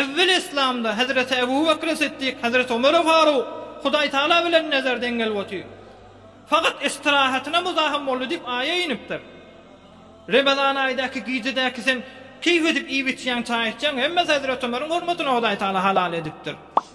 Ewweli Yslamda Hezreti Ebu Bekri Siddik, Hezreti Omeri Faruk, Hudaý Tagala bilen nezer deň gelip otyr. Fakat istirahatyna muzahym boldy diýip aýa inipdir. Remezan aýdaky gijedäki sen keýp edip iýip içýäň çaý içýäň hemmesi Hezreti Omeriň hormatyna Hudaý Tagala halal edipdir.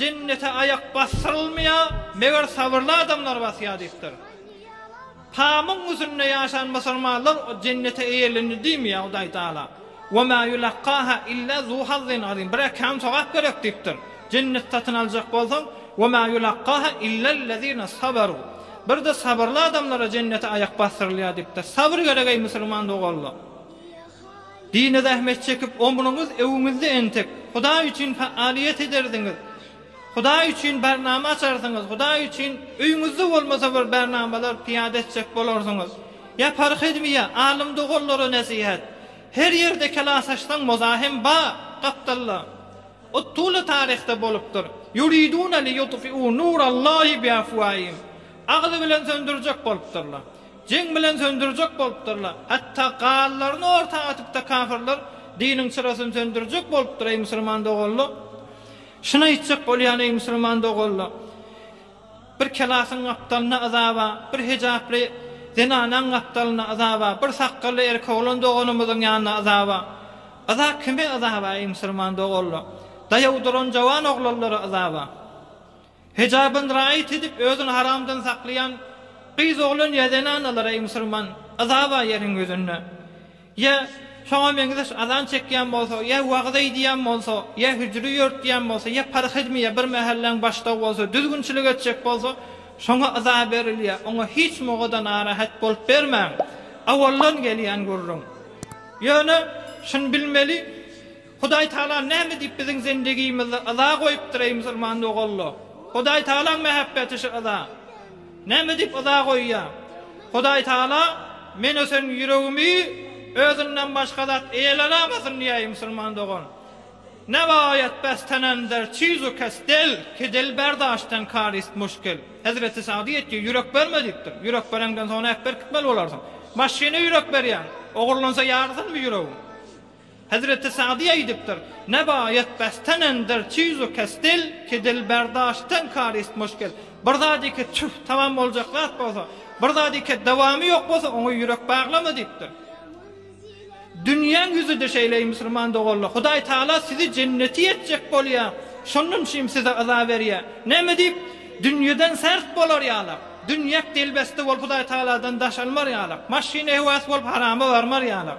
Jennete aýak basdyrylmaýar, meger sabyrly adamlar basýar diýipdir. Pamyň ýüzünde ýaşan musulmanlar jennete eýlendi diýmeýär Hudaý Taala. Ve ma ýulakkaha illa zu hazzin azim. Birek kän sogap gerek diýipdir. Jennet satyn aljak bolsaň, ve ma ýulakkaha illellezine saberu. Birde sabyrly adamlara jennete aýak basdyrylýar diýipdir. Sabyr gerek eý musulman doganlar. Dine zähmet çekip omruňyz öwüňizde entek Hudaý üçin faaliýet ederdiňiz. Hudaý üçin barnama açarsyňyz, Hudaý üçin öýüňizde bolmasa bir barnamalar piýada etjek bolarsyňyz. Ýapar hezmiýa, alym doganlara nesihat. Her ýerde kelas açsaň moza hem bar, gapdalda. Ot tuly taryhda bolupdyr. Yuridune li yutfi'u nurallahi bi afwaihim. Agzy bilen söndürjek bolupdyrlar. Jeň bilen söndürjek bolupdyrlar. Hatda galylaryny orta atyp-da kafyrlar diniň çyrasyny söndürjek bolupdyr, eý musulman doganlar! Şuny aýtjak bolýan, eý musulman doganlar! Bir kelasyň gapdalyna yzaba, bir hejaply zenanaň gapdalyna yzaba, bir sakgally erkoglan doganymyzyň ýanyna yzaba. Yza kime yzaba, eý musulman doganlar? Daýaw duran jowan oglanlara yzaba. Hijabyn raýat edip özün haramdan saklaýan gyz oglan ýa zenanalar eý musurman yza bar ýeriň ýüzünde ýa şoňa meňzeş azan çekýän bolsa ýa wagyz eýdýän bolsa ýa hüjri ýörtýän bolsa ýa parhizmi ýa bir mähelläň başdagy bolsa düzgünçilik etjek bolsa şoňa yza berilýä oňa hiç mogoda narahat bolup bermäň awaldan gelýän gürrüň ýöne şuny bilmeli Hudaý Taala näme diýip biziň zindigimizde yza goýupdyr eý musulman doganlar? Hudaý Taalaň mähebbeti şu yza näme diýip yza goýýa? Hudaý Taala men ösen ýüregimi özünden başga zat eýelenamasyn diýä eý musulman dogan. Ne baýat bes tenender çizu kes del ki dil berdaş ten kar ist muşkil. Hezreti Sagdy etýär ýürek berme diýipdir. Ýürek bereňden soň näp berkitmeli bolarsyň. Maşyna ýürek berýäň. Ogurlansa ýarysynmy ýüregiň? Hezreti Sa'dy aýdypdyr, Nebaýat bestenendir çyzu kesdil, kedil berdaştdan karist muşkil. Bir zat eke tüh, tamam boljak zat bolsa, bir zat eke dawamy ýok bolsa, oňa ýürek baglama diýipdir. Dünýäň ýüzi-de şeýle eý musulman doganlar, Hudaý Taala sizi jenneti etjek bolýa, şondan üçin size yza berýä. Näme diýip, dünýeden sert bolar ýalak, dünýek delbeste bolup Hudaý Taaladan daş almar ýalak, maşyn ehwasy bolup harama barmar ýalak.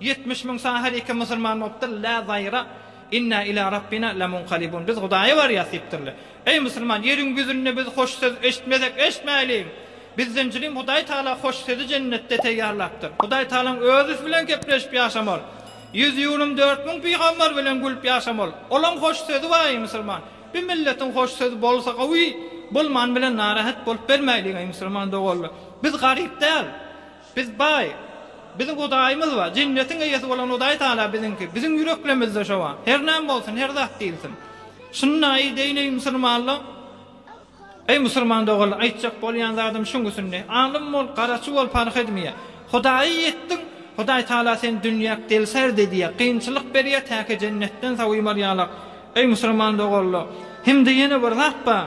Ýetmiş müň sany her iki musulman bolupdyr, Lä zaýra, Inna ilä Rabbina lamunkalibun, Biz Hudaýa barýas diýipdirler. Eý, musulman, ýeriň ýüzünde biz hoş söz eşitmesek, eşitmäýliň! Bizden jülim Hudaý Tagala hoş sözi jennetde teýýarlapdyr. Hudaý Tagalaň Özi bilen gepleşip ýaşamaly. Ýüz ýülim dört müň pygamber bilen gülüp ýaşamaly. Olaň hoş sözi bar, eý, musulman! Bir milletiň hoş sözi bolsa gowy, bolmany bilen narahat bolup bermäýliň, eý, musulman doganlar! Biz garyp däl. Biz baý. Biziň Hudaýymyz bar. Jennetiň eýesi bolan Hudaý Tagala biziňki. Biziň ýüreklemizde şo bar. Her näme bolsun, her zat diýilsin. Şunda eýdeýin, eý, musulmanlar! Eý, musulman doganlar, aýtjak bolýan zadym şuň üçin-de, alym bol, garaçy bol, parh edmeýär. Hudaýa ýetdiň, Hudaý Tagala seni dünýäk delsärd edýär, kynçylyk berýär, täki jennetden saw ýumarýarlar. Eý, musulman doganlar! Hem-de ýene bir zat bar.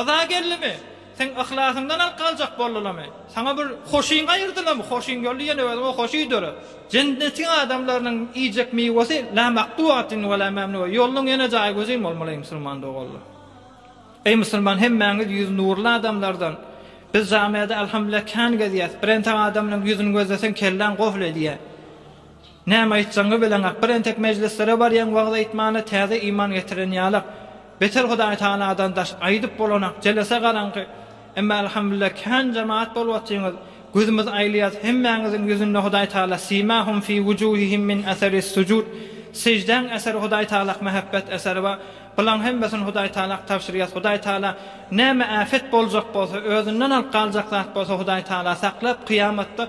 Yza geldimi? Seň yhlasyňdan alyp galjak boldulamy? Saňa bir hoşyň aýyrdylamy? Hoşyň geldi ýene özüňe hoş iýdere. Jennetiň adamlarynyň iýjek miwesi la maktuatin we la mamnuwa, ýolunyň ýene jaýy gözin bolmaly eý musulman doganlar. Eý musulman hemmäňiz ýüzi nurly adamlardan. Biz jamiada alhamdulillah kän gezýäs. Birentek adamlaryň ýüzüni gözleseň kelläň gofl edýär. Näme aýtjagyňy bileňok, bir entek mejlislere barýaň wagyz aýtmana täze iman getiren ýalak. Beter Hudaý Tagaladan daş aýdyp bolanak, jelese garaňky. Emma Alhamdulillah kän jemaat bolup otyňyz. Gözümiz aýlaýas hemmäňiziň ýüzünde Hudaý Tagala Simahum fi wujuhihim min asaris sujud Sejdäň äseri Hudaý Tagalak mähebbet äseri bar. Bulaň hemmesini Hudaý Tagalak tabşyrýas. Hudaý Tagala näme äfet boljak bolsa, özünden alyp galjak zat bolsa Hudaý Tagala saklap kyýamatda